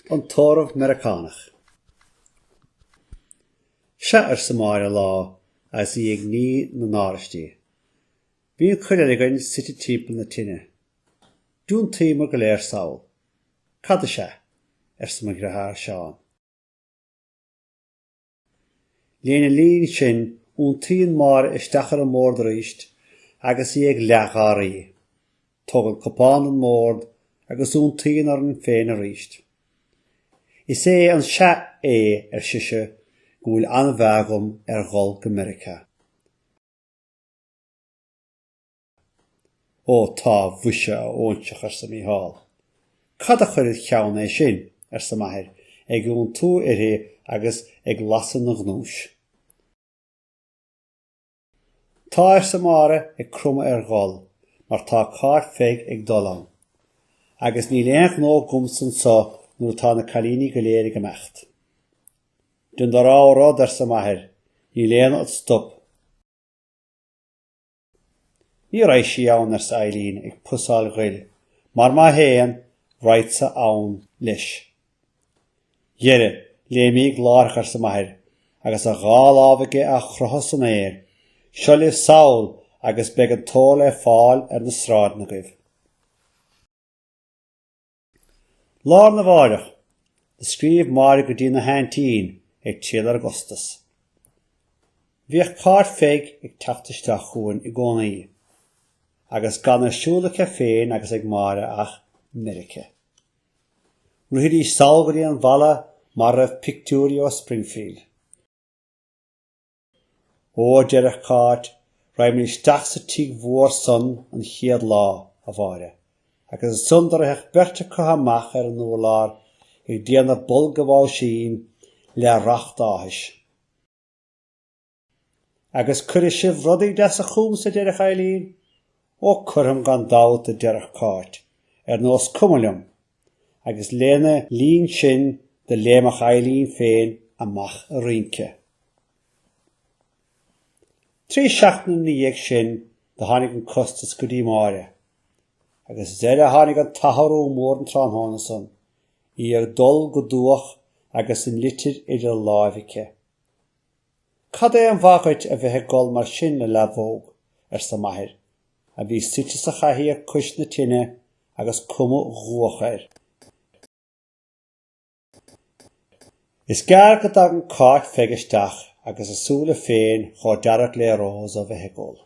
An tórramh Meiriceánach. Sea, arsa Máire lá agus í ag ní na n-áraistí. Bhí an chuid eile againn suite timpeall na tine. D'iontaíomar go léir sall. Cad is ea? arsa mo dheartháir Seán. Lena linn sin, iontaíonn Máire isteach ar an mbord arís agus í ag leathgháirí. Tógann cupán ón mbord agus iontaíonn orainn féin arís. Is é an sea é, ar sise, go bhfuil an-mheá agam ar dhul go Meirice. Ó tá, mhuise, a óinseach, arsa Mícheál. Cad a chuir id cheann é sin? arsa m'athair, ag iontú uirthi agus ag lasadh ina ghnúis. Tá, arsa Máire, ag cromadh ar ghol, mar tá Cáit Pheig ag dul ann. Agus níl aon ghnó agamsa anso nuair atá na cailíní go léir ag imeacht. Dein do rogha rud, arsa m'athair, níl éinne ad stop. Ní raghaidh sí ann, arsa Eibhlín, ag pusáil ghoil, mar má théann, raghadsa ann leis. Dhera, léimíg láithreach, arsa m'athair, agus a dhá lámh aige á chroitheadh san aer, seo libh sall agus beidh an t-ór le fáil ar na sráideanna agaibh. Lá arna mháireach, do scríobh Máire go dtína haintín ag triall ar an gcostas. Bhíodh Cáit Pheig ag teacht isteach chughainn i gcónaí, agus gan ar siúl aici féin agus ag Máire ach Meirice. Rithidís sall go dtí an bhfalla mar a raibh pictiúirí ó Springfield. Ó, a deireadh Cáit, raghaimíd isteach sa tigh mhór san an chéad lá, a Mháire. Agus ansan do ritheadh beirt acu amach ar an urlár ag déanamh bulla báisín le racht áthais. Agus cuirfidh sibh rudaí deasa chugamsa, a deireadh Eibhlín. Ó, cuirfeam gan dabht, a deireadh Cáit, ar nós cuma liom, agus lena linn sin do léimeadh Eibhlín féin amach ag rince. Trí seachtaine ina dhiaidh sin do tháinig an costas go dtí Máire. Agus is uirthi a tháinig an t-athrú mór an tráthnóna san, í ag gol go dubhach agus an litir idir láimh aici. Cad é an mhaith dhuit a bheith ag gol mar sin, a leadhbóg? arsa m'athair, a bhí suite sa chathaoir cois na tine agus cuma dhubhach air. Is gearr go dtagann Cáit Pheig isteach agus a súile féin chomh dearg le rós ó bheith ag gol.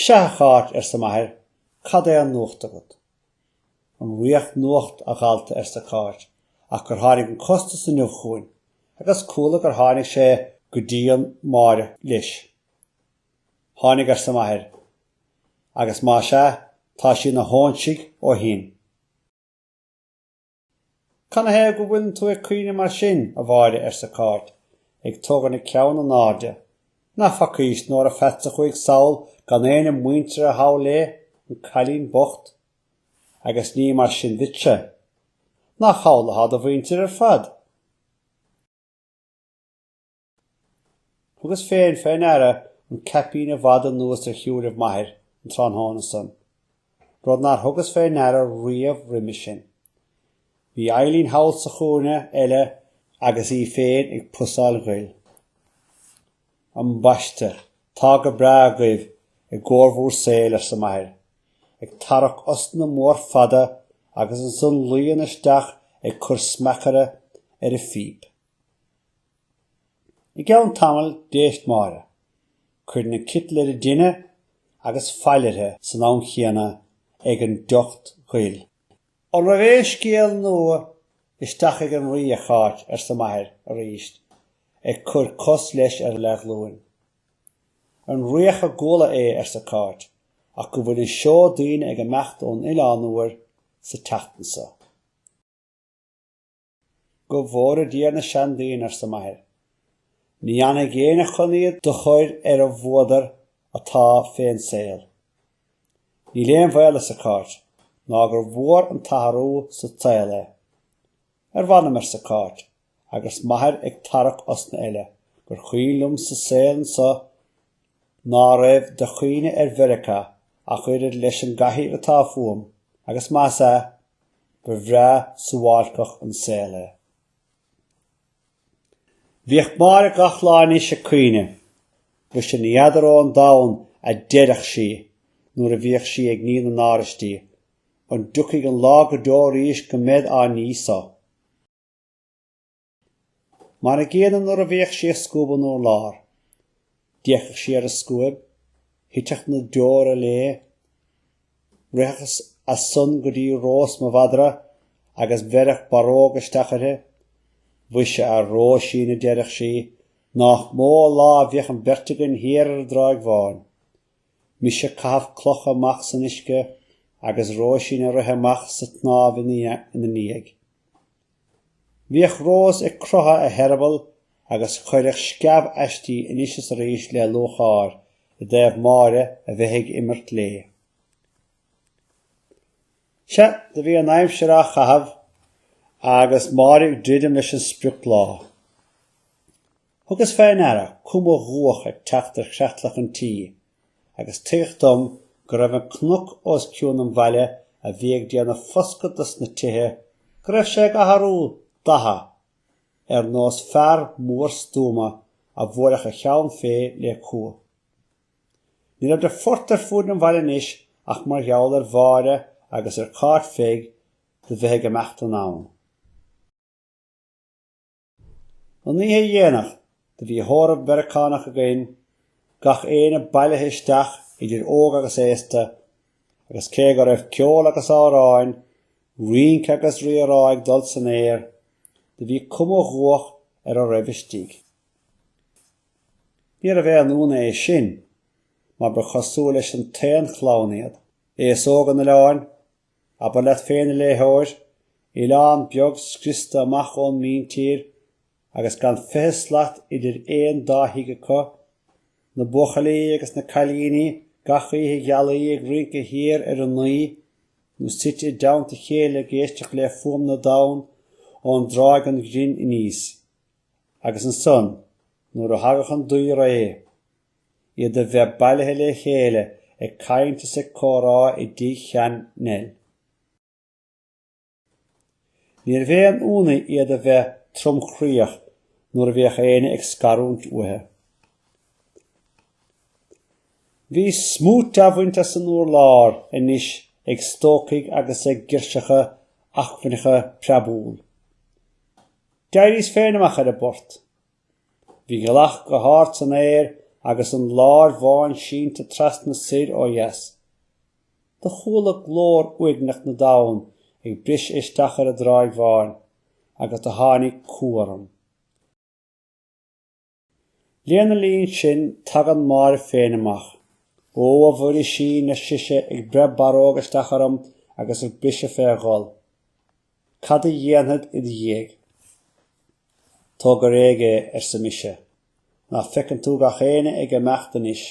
Sea, a Cháit, arsa m'athair, cad é an nuacht agat? An riach nuacht, a dhalta, arsa Cáit, ach gur tháinig an costas inniu chugainn, agus chuala gur tháinig sé go dtí Máire leis. Tháinig, arsa m'athair, agus más ea, tá sí ina hóinsigh ó shin. Canathaobh go bhfuileann tú ag caoineadh mar sin, a Mháire, arsa Cáit, ag tógaint a ceann in airde. Nach bhfacaís Nóra Pheats a chuaigh sall gan éinne muinteartha thall léi, an cailín bocht. Agus ní mar sin duitse. Nach thall atá do mhuintir ar fad? Thugas féin fé ndeara an caipín i bhfad anuas ar shúilibh m'athair an tráthnóna san, rud nár thugas fé ndeara riamh roimis sin. Bhí Eibhlín thall sa chúinne eile agus í féin ag pusáil ghoil. Ambaiste, tá go breá agaibh i gcóir bhúr saoil, arsa m'athair, ag tarrac osna mhór fada agus ansan luíonn isteach ag cur smeachaide ar a phíp. I gceann tamaill d'éist Máire. Chuir an citeal ar an dtine agus fail uirthi san am chéanna ag an dtocht ghoil. An raibh aon scéal nua isteach ag an Rí, a Cháit? arsa m'athair arís, ag cur cos leis ar a leathghlúin. An riach a gcuala é, arsa Cáit, ach go bhfuil an seó daoine ag imeacht don Oileán Úr sa tseachtain so. Go bhfóire Dia na seandaoine, arsa m'athair. Ní fhanfaidh éinne chun iad do chur ar an bhfuadar atá fén saol. Níl aon bhaol, arsa Cáit, ná gur mhór an t-athrú sa tsaol é. Ar mh'anam, arsa Cáit, agus m'athair ag tarrac osna eile, gur cuimhin liomsa saol anso Ná raibh de chuimhne ar Mheirice ach oiread leis an gcathaoir atá fúm agus más ea, ba bhreá suáilceach an saol é. Bhíodh Máire gach lá anois ag caoineadh. Mhuise, ní fheadar ón domhan, a deireadh sí nuair a bhíodh sí ag ní na n-áraistí, an dtiocfaidh an lá go deo arís go mbead á ní so? Mar an gcéanna nuair a bhíodh sí ag scuabadh an urláir. D'fhéachadh sí ar an scuaib, thiteadh na deora léi, ritheadh as san go dtí Rós mo mhadra agus bheireadh barróg isteach uirthi. Mhuise, a Róisín, a deireadh sí, nách mó an lá a bhíodh an bheirt againn thiar ar an dTráigh Bháin. Mise ag caitheamh cloch amach san uisce agus Róisín ag rith amach sa tsnámh ina ndiaidh. Bhíodh Rós ag croitheadh a heireabaill agus chuireadh sceamh aisti anois is arís le lúcháir i dtaobh Máire a bheith ag imirt léi. Sea, do bhí an aimsir á chaitheamh agus Máire ag druidim leis an sprioclá. Thugas fé ndeara cuma dhubhach ag teacht ar chreatlach an tí, agus tuigeadh dom go raibh an cnoc os cionn an bhaile a bhí ag déanamh foscadh dos na tithe, go raibh sé ag athrú datha, ar nós fear mór stuama a bhuailfeadh a cheann fé le cumha. Ní raibh de phort ar fuaid an bhaile anois ach mar gheall ar Mháire agus ar Cáit Pheig do bheith ag imeacht anonn. An oíche dhéanach, do bhí tórramh Meiriceánach againn, gach éinne bailithe isteach idir óg agus aosta, agus cé go raibh ceol agus amhráin, rince agus rírá ag dul san aer, do bhí cuma dhubhach ar a raibh istigh. Níorbh aon ionadh é sin, mar ba chosúil leis an t-aon chlann iad, aos óg an oileáin, Abair leat féin, a léitheoir, oileán beag scriosta amach ón míntír agus gan fiche slat idir aon dá thigh acu, na buachaillí agus na cailíní gach oíche ghealaí ag rince thiar ar an nDuimhe, nó suite i dteannta a chéile ag éisteacht le fuaim na dtonn ón dTráigh an Ghrin aníos. Agus ansan, nuair a thagadh an duibhré. iad a bheith bailithe le chéile ag caint is ag comhrá i dTigh Shean Nell. Níorbh aon ionadh iad a bheith tromchroíoch nuair a bhíodh éinne ag scarúint uathu. Bhí smúit á bhaint as an urlár anois ag stócaigh agus ag girseacha acmhainneacha preabúil. D'éiríos féin amach ar an bport. Bhí gealach go hard san aer agus an láir bháin sínte trasna soir ó dheas. Do chuala glór uaigneach na dtonn ag briseadh isteach ar an dtráigh bháin, agus do tháinig cumha orm. Lena linn sin tagann Máire féin amach. Ó, a Mhuirisín, ar sise, ag breith barróg isteach orm agus ag briseadh fé ghol. Cad a dhéanfad id dhiaidh? Tóg go réidh é, arsa mise. Ná feiceann tú gach éinne ag imeacht anois,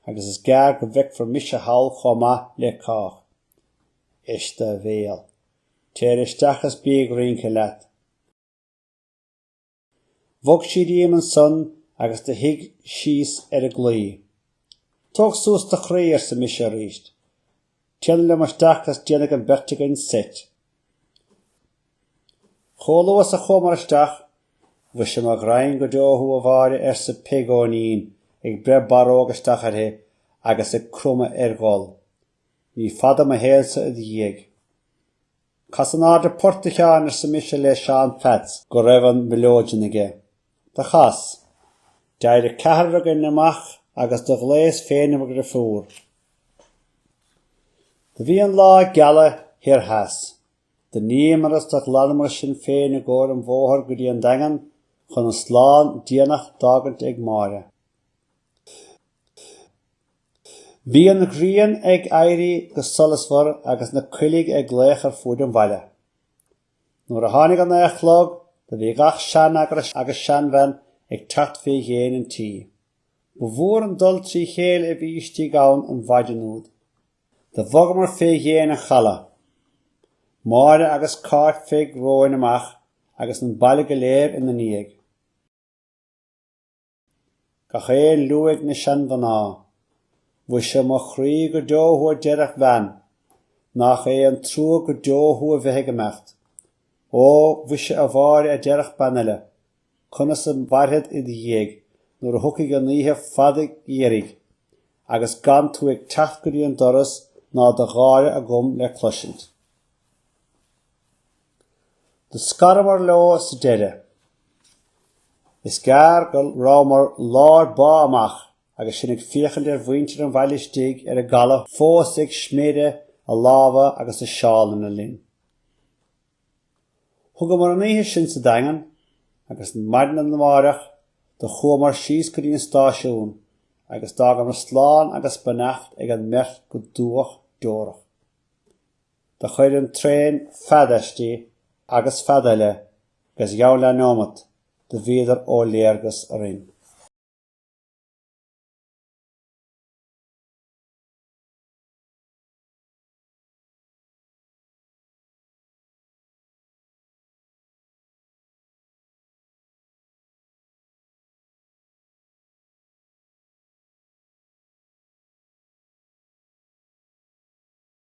agus is gearr go bhfeicfir mise thall chomh maith le cách. Eist do bhéal. Téir isteach is bí ag rince leat. Bhog sí díom ansan agus do shuigh síos ar an gclaí. Tóg suas do chroí, arsa mise arís. Téanam liom isteach agus déanfaidh an bheirt againn seit. Chomh luath is a chuamar isteach, Mhuise mo ghraidhin go deo thú, a Mháire, arsa Peig Eoinín, ag breith barróg isteach uirthi agus ag cromadh ar ghol. Ní fada mo shaol-sa id dhiaidh. Cas in airde port a Sheáin arsa mise le Seán Pheats go raibh an mileoidean aige. Do chas. D'éirigh ceathrar againn amach agus do ghlaos féin ar mo dhriofúr. Do bhí an lá ag gealadh thoir theas. Do níomair is do ghlanamair sinn féin i gcomhair an bhóthair go dtí an Daingean chun an slán déanach d'fhágaint ag Máire. Bhí an ghrian ag éirí go solasmhar agus na coiligh ag glaoch ar fuaid an bhaile. Nuair a tháinig a naoi a chlog do bhí gach seanfhear agus seanbhean ag teacht fé dhéin an tí. Ba mhór an dul trí chéile a bhí istigh ann an mhaidean úd. Do bhogamar fé dhéin an chaladh. Máire agus Cáit Pheig romhainn amach agus an baile go léir ina ndiaidh. Gach aon liú ag na seanmhná. Mhuise, mo chroí go deo thú a deireadh bean, nach é an trua go deo thú a bheith ag imeacht. Ó, mhuise a Mháire a deireadh bean eile, conas a mhairfead id dhiaidh nuair a thiocfaidh an oíche fada gheimhridh agus gan tú ag teacht go dtí an doras ná do gháire agam le cloisint. Do scaramar leo sa deireadh. Is gearr go rabhamar lár bá amach agus sinn ag féachaint ar mhuintir an bhaile istigh ar an gcaladh fós ag sméideadh a lámha agus a seálanna linn. Thugamar an oíche sin sa Daingean agus maidin amárach do chuamar síos go dtí an stáisiún agus d'fhágamar slán agus beannacht ag an mbeirt go dubhach deorach. Do chuir an traen fead aisti agus fead eile agus gheall le neomat do bhíodar ó léargas orainn.